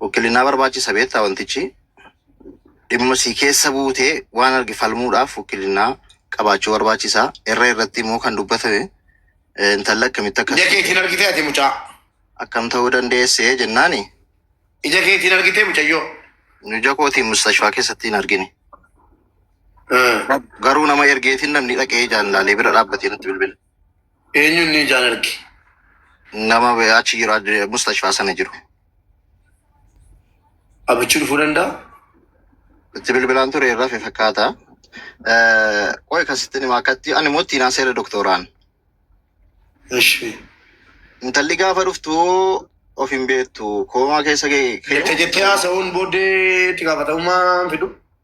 Wukkilinaa barbaachisa beektaa wantichi dhimma sii keessa buutee waan arge falmuudhaaf wukkilinaa qabaachuu barbaachisa. Irra irratti immoo kan dubbatame eh, intalli akkamitti akkas Ija keetiin argitee ati mucaa. akkam ta'uu dandeessee jennaani Ija keetiin argitee mucayyoo. nu ija kootiin mustashfaa keessatti hin argine. Eh. Garuu nama ergeetiin namni dhaqee ijaan laalee bira dhaabbatee natti bilbile. Eenyuun ni ijaan arge? Nama be- achi jiru ad- mustashfaa sana jiru. Abichi dhufuu danda'a? Itti bilbilaan ture irraa fi fakkaata. Eh, Qoy kasitti nima akkatti ani immoo ittiin haaseera doktoraan. Ishi. Intalli gaafa dhuftu of hin beektu koomaa keessa ga'e. Jecha jettee haasa'uun booddee itti gaafatamummaa hin fidu.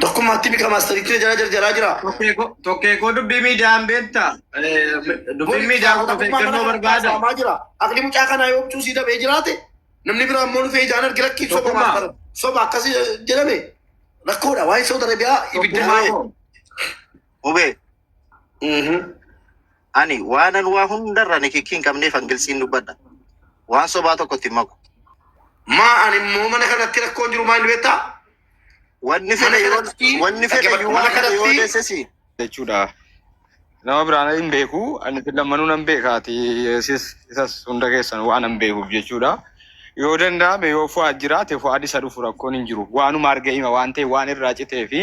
Tokkummaatti mika maastariitti jala jarjaraa jira. Tokkee koo dubbii miidiyaan beektaa? Dubbii miidiyaan kun of eeggannoo barbaada. Saamaa jira. Aqli mucaa kanaa yoo obcuu sii dabee jiraate namni biraa immoo dhufee ijaan argi lakkii soba Tokkummaa. maal bara. Soba akkas jedhame rakkoodha. Waa'ee Saudi Arabiyaa ibidda Tokkummaa malee. koo. Hubee. Mhm. Ani waanan waa hundarra nikikkii hin qabneefan giltsiin dubbadha. Waan sobaa tokkotti hin maku. Maa ani immoo mana kanatti rakkoon jiru maal beektaa? Wanni Mana fedhe yoo kanatti wanni fedhe dhaggeeffadhu. yoo Mana waan fedhe yoo kanatti deessesi. jechuudha. Nama biraan hin beeku, ani isin lammanuu nan beeka, ati isis isas hunda keessan waan hin beekuuf jechuudha. Yoo danda'ame yoo Fu'aad jiraate Fu'aad isa dhufu rakkoon hin jiru. Waanuma arge hima waan ta'e waan irraa citee fi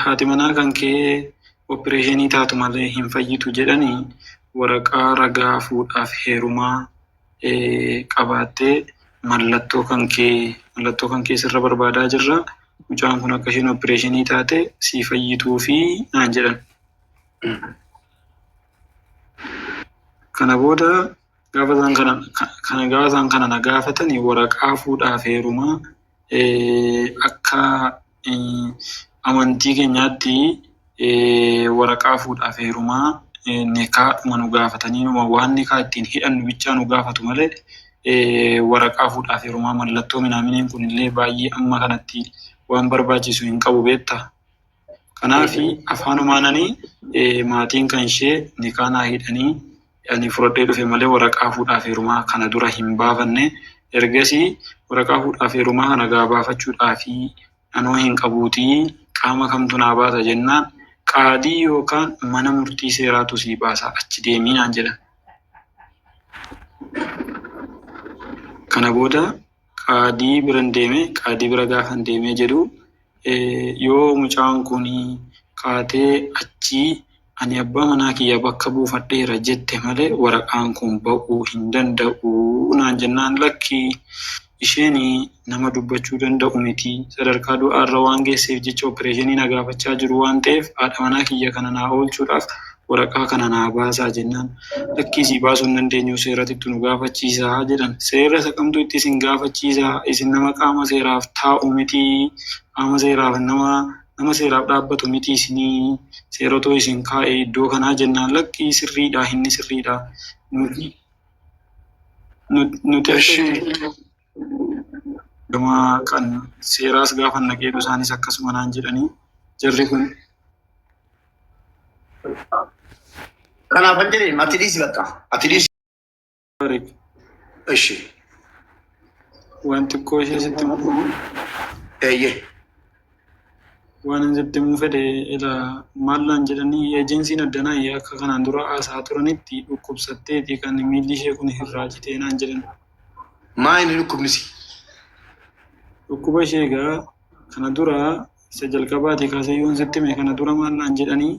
Haati manaa kan kee oppireeshinii taatu malee hin fayyitu jedhanii waraqaa ragaa fuudhaa fi heerumaa qabaattee mallattoo kan kee mallattoo kan kee sirra barbaadaa jirra mucaan kun akka isheen oppireeshinii taate sii fayyituufi naan jedhan. Kana booda Gaafa isaan kana, kana gaafa isaan kana na gaafatan waraqaa fuudhaaf heerumaa eh, akka eh, amantii keenyaatti eh, waraqaa fuudhaaf heerumaa eh, nikaadhuma nu gaafatanii numa waan nikaa ittiin hidhannu bichaa nu gaafatu malee eh, waraqaa fuudhaaf heerumaa mallattoo minaaminiin kunillee baay'ee amma kanatti waan barbaachisu hin qabu beektaa. Kanaafi afaanumaan ani maatiin kan ishee nikaa naa hidhanii ani fudhadhee dhufe malee waraqaa fuudhaaf heerumaa kana dura hin baafanne. Ergasii waraqaa fuudhaaf heerumaa kana gaa baafachuudhaaf anoo hin qabuutii qaama kamtu naa baasa jennaan qaadii yookaan mana murtii seeraatu sii baasa achi deemi naan jedhan. Kana booda qaadii biran deeme qaadii bira gaafan deemee jedhu yoo mucaan kun kaatee achii ani abbaa manaa kiyya bakka buufadheera jette malee waraqaan kun ba'uu hin danda'u naan jennaan lakkii isheen nama dubbachuu danda'u miti sadarkaa du'aarra waan geesseef jecha opereeshinii na gaafachaa jiru waan ta'eef haadha manaa kiyya kana naa oolchuudhaaf waraqaa kana naa baasaa jennaan lakkii sii baasuu hin dandeenyu seeratittu nu gaafachiisaa jedhan. Seera isa kamtu itti isin gaafachiisa isin nama qaama seeraaf taa'u miti qaama seeraaf nama nama seeraaf dhaabbatu miti isinii seeratu isin kaa'e iddoo kanaa jennaan lakkii sirriidha inni sirriidha nu nu nu Eshi. Gama kan seeraas gaafa naqeetu isaanis akkasuma naan jedhanii jarri kun. Kanaaf kan jedhe ati dhiisi bakka ati dhiisi. Ishi. Waan xiqqoo ishee sitti muuduu. Eeyyee. Waanan sitti himuu fedhe ilaa maal naan jedhanii ejensiin addanaa akka kanaan dura haasa'aa turanitti dhukkubsatteeti kan miilli ishee kun irraa citee naan jedhan. Maa inni dhukkubnisi? Dhukkuba ishee egaa kana dura isa jalqabaatii kaasee yoon sitti hime kana dura maal naan jedhanii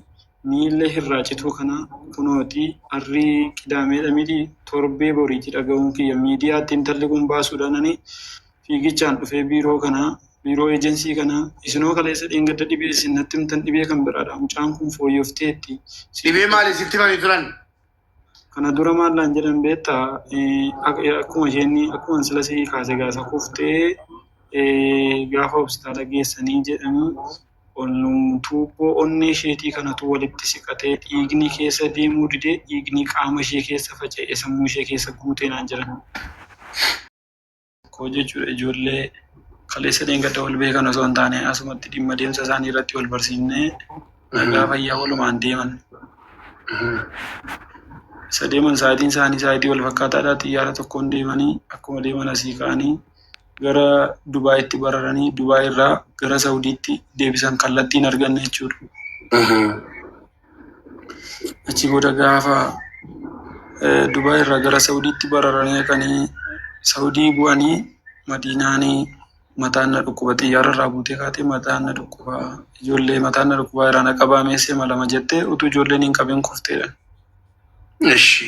miilla irraa cituu kana kunooti harri qidaameedha miti torbee boriiti dhaga'uun kiyya miidiyaatti intalli kun baasuudhaan ani fiigichaan dhufee biiroo kanaa, biiroo ejensii kanaa, isinoo kaleessa dheengadda dhibee isin natti himtan dhibee kan biraadha, mucaan kun fooyyofteetti, sitti Dhibee maali himte. sitti himanii turan? Kana dura maal naan jedhan beektaa? Eh, ak- eh, Akkuma isheen akkuma sila sii kaase gaasa kuftee eh, gaafa hospitaala geessanii jedhan ol- tuubboo onnee isheetii kanatu walitti siqatee dhiigni keessa deemuu didee dhiigni qaama ishee keessa faca'ee sammuu ishee keessa guutee naan jedhan. koo jechuudha ijoollee kaleessa dheengadda wal beekan osoo hin taane asumatti dhimma deemsa isaanii irratti wal barsiifnee nagaa fayyaa walumaan deeman. Isa deeman sa'aatiin isaanii sa'aatii wal fakkaataadha xiyyaara tokkoon deemanii akkuma deeman asii ka'anii gara Dubaayitti bararanii Dubaay irraa gara Sawudiitti deebisan kallattiin arganne jechuudha. Achi booda gaafa Dubaay irraa gara Sa'udiitti bararanii dhaqanii Sa'udii bu'anii Madiinaan mataan na dhukkuba xiyyaara irraa buutee kaatee mataan na dhukkuba ijoollee mataan na dhukkuba irraa na qabaa meesee malama jettee utuu ijoolleen hin qabin kufteedha. Eshi.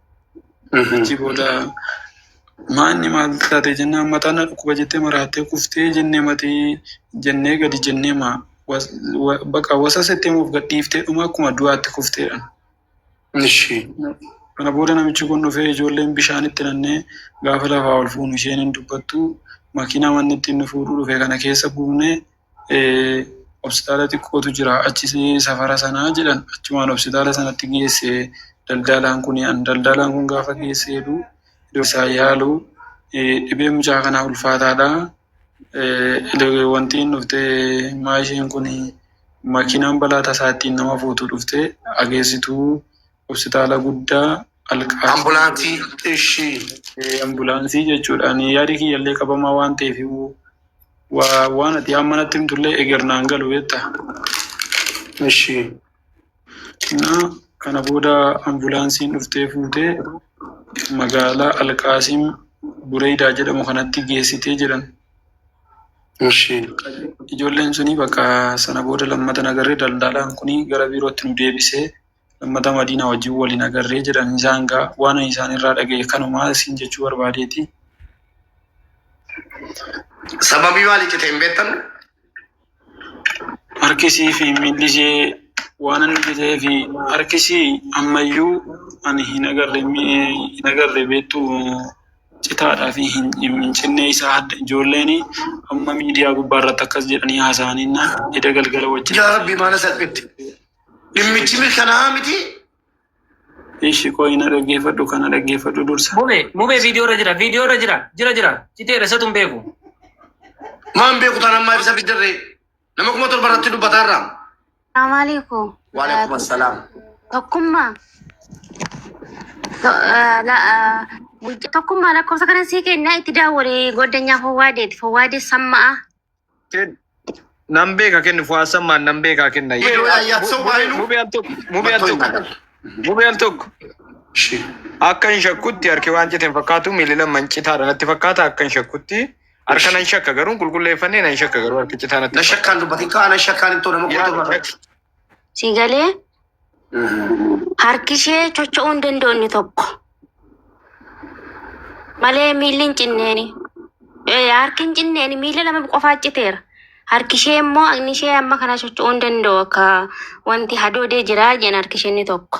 Achi booda maanni maal taate jennaan mataan na dhukkuba jettee maraattee kuftee jennee matii jennee gadi jennee maa baqa wasa settee moof gadhiiftee dhuma akkuma du'aatti kufteedha. Ishi. Kana booda namichi kun dhufee ijoolleen bishaan itti nannee gaafa lafaa ol fuunu isheen hin dubbattu makiinaa manni ittiin nu fuudhuu dhufe kana keessa buunee Hospitaala xiqqootu jira achi safara sana jedhan achumaan hospitaala sanatti geesse daldalaan kun. Daldalaan kun gaafa geesse jedhu yeroo isaan yaalu dhibeen mucaa kanaa ulfaataadha. Wanti dhufte maashinni kun makiinaan balaa tasaa ittiin nama fuutu dhufte haa geessitu. Hospitaala guddaa Al-Qaasimiin. Ambulaansii ishii. Ambulaansii jechuudha. Ani yaadi kiyyallee qabamaa waan ta'eef waan ati amma natti himtullee eger naan galu beekta. Ishii. Innaa kana booda ambulaansiin dhuftee fuutee magaalaa Al-Qaasiim Bureeydaa jedhamu kanatti geessitee jedhan. Ishii. Ijoolleen suni bakka sana booda lammata nagarree daldalaan kuni gara biirootti nu deebisee lammata Madiinaa wajjin wal hin agarree jedhan isaan gaa waan ani isaan irraa dhagaye kanumaa isin jechuu barbaadeeti. Sababii maaliif cite hin beektan? Harkisii fi miilli ishee waan inni citee fi harkisii ammayyuu ani hin agarre hin agarre beektu citaadhaa fi hin hin cinnee isaa hadda ijoolleen amma miidiyaa gubbaa irratti akkas jedhanii haasa'aniin eda galgala wajjin. Yaa Rabbii maana salphitti. Dhimmichi mirkanaa'aa miti. Ishi qoyi na dhaggeeffadhu kana dhaggeeffadhu dursa. Mube, mube viidiyoo irra jira, viidiyoo irra jira, jira jira. Citeera isatu hin beeku. Maan beeku taanaan maaf isa fiddarree? Nama kuma torba irratti dubbataa irraa. Amaaliku. Waalaikum assalaam. Tokkummaa. To- eh, la- eh, guyyaa Tokkummaa lakkoofsa kana sii kennaa itti daawwali goddanyaa fowwaadeeti. Fowwaadee samma'a. Ken- Nan beeka kenni Fuwaad Sammaan nan beekaa kenna. Yeroo ayyaat soo baay'inu- Mubee al tokko. Mubee al Mattoo hin tokko. dhagalle. Mubee al tokko. Shi. Akka hin shakkutti harki waan cite hin fakkaatu miilli lama hin citaadha natti fakkaata akka hin shakkutti harka nan shakka garuu qulqulleeffannee nan shakka garuu harki citaa natti Na shakkaan dubbatin kaa na shakkaan hin too nama Yaa, qotu irraa. Sii galee harki ishee chocho'uu hin danda'u inni tokko. Malee miilli hin cinneeni. Eh, Harki hin cinneeni miilli lama qofaa citeera. Harki ishee immoo inni ishee amma kana chocho'uu hin danda'u akka wanti hadoodee jira jedhan harki ishee inni tokko.